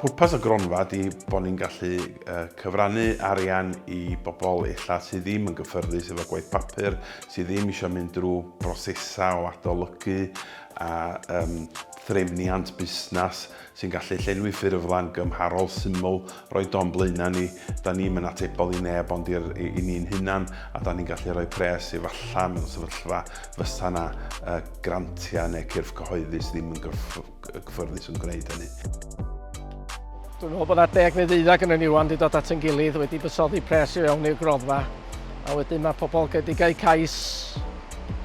Pwrpas y gronfa ydy bod ni'n gallu cyfrannu arian i bobl illa sydd ddim yn gyffyrddus efo gwaith papur, sydd ddim eisiau mynd drwy brosesau o adolygu a um, threfniant busnes sy'n gallu llenwi ffurflen gymharol syml, roi don blaenau ni, da ni'm yn atebol i neb ond i'r, i, i ni'n hunan, a da ni'n gallu rhoi pres efallai mewn sefyllfa fysa 'na yy grantiau neu cyrff cyhoeddus ddim yn gyff- gyffyrddus yn gwneud hynny. Dwi'n meddwl bod 'na deg neu ddeuddeg yn y ni rwan 'di dod at yn gilydd wedi buddsoddi pres i fewn i'r gronfa. A wedyn mae pobl wedi cael cais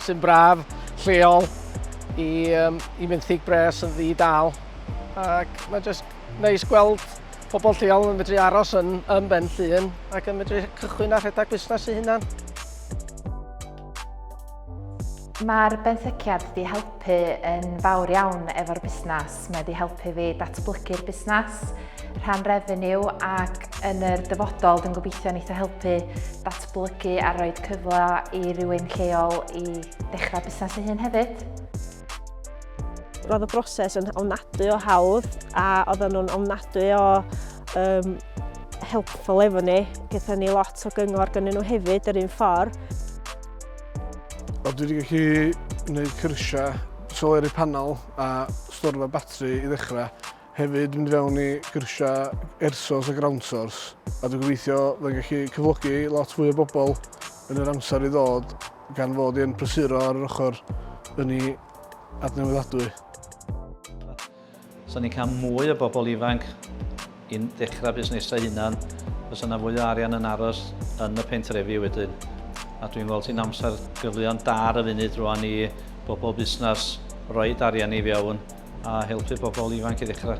sy'n braf, lleol, i, um, i fenthyg bres yn ddi dal. Ac mae jyst neis gweld pobl lleol yn medru aros yn, yn Ben Llun ac yn medru cychwyn a rhedeg busnes i hunan. Mae'r benthyciad 'di helpu yn fawr iawn efo'r busnes. Mae 'di helpu fi datblygu'r busnes, rhan refeniw ac yn yr dyfodol dwi'n gobeithio neith o helpu datblygu a rhoi cyfle i rywun lleol i dechrau busnes ei hun hefyd. Roedd y broses yn ofnadwy o hawdd a oedden nhw'n ofnadwy o um, helpful efo ni. Gyda ni lot o gyngor gynnyn nhw hefyd yr un ffordd. Wel, dwi wedi gallu gwneud cyrsiau soleri panel a storfa batri i ddechrau. Hefyd mynd fewn i gyrsiau air source a ground source. A dwi'n gobeithio fe'n gallu cyflogi lot fwy o bobl yn yr amser i ddod gan fod i'n prysuro ar yr ochr yn ei adnewyddadwy. Os ni'n cael mwy o bobl ifanc i ddechrau busnesau hunan, fysa yna fwy o arian yn aros yn y pentrefi wedyn. A dwi'n gweld hi'n amser gyfleon da ar y funud rwan i bobl busnes roed arian i fewn a helpu bobl ifanc i ddechrau.